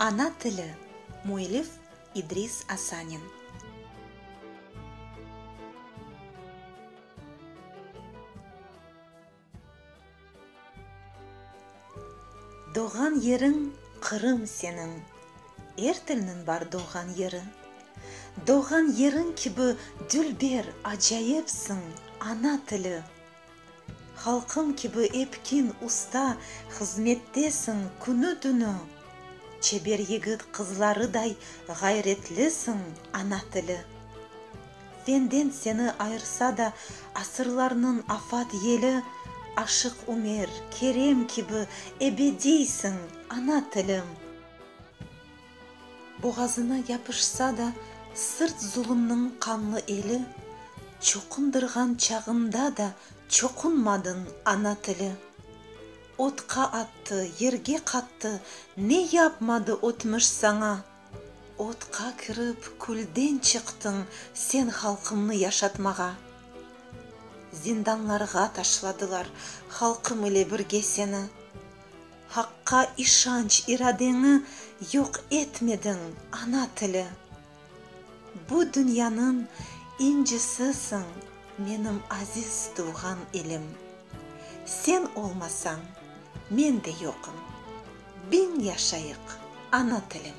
Ana tili, müellif, İdris Asanin. Doğğan yeriñ Qırım seniñ. Er tilniñ bar doğğan yeri. Doğğan yeriñ kibi dülber, acayipsiñ, ana tili. Halqım kibi epkin, usta, hızmettesiñ künü-tünü, Çeber yigit qızlarıday ğayretlisiñ, ana tili. Fenden seni ayırsa da asırlarnıñ afat yeli, Aşıq Ümer, Kerem kibi ebediysiñ, ana tilim! Boğazına yapışsa da sırt zulumnıñ qanlı eli, Çoqundırğan çağında da çoqunmadıñ ana tili. Otqa attı, yerge qattı, ne yapmadı ötmüş saña? Otqa kirip, külden çıqtıñ sen halqımnı yaşatmağa. Zindanlarğa taşladılar halqım ile birge seni. Haqqa işanç iradeñi yoq etmediñ, ana tili! Bu dünyanıñ incisisiñ, menim aziz tuvğan ilim! Sen olmasañ, men de yoqım! Biñ yaşayıq, ana tilim!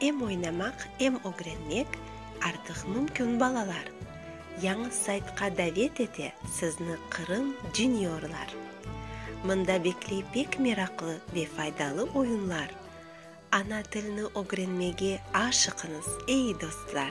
Em oynamaq, em ögrenmek artıq mümkün balalar. Yañı saytqa davet ete sizni Qırım Juniorlar. Mında bekley pek meraqlı ve faydalı oyunlar. Ana tilni ögrenmege aşıqıñız, ey dostlar!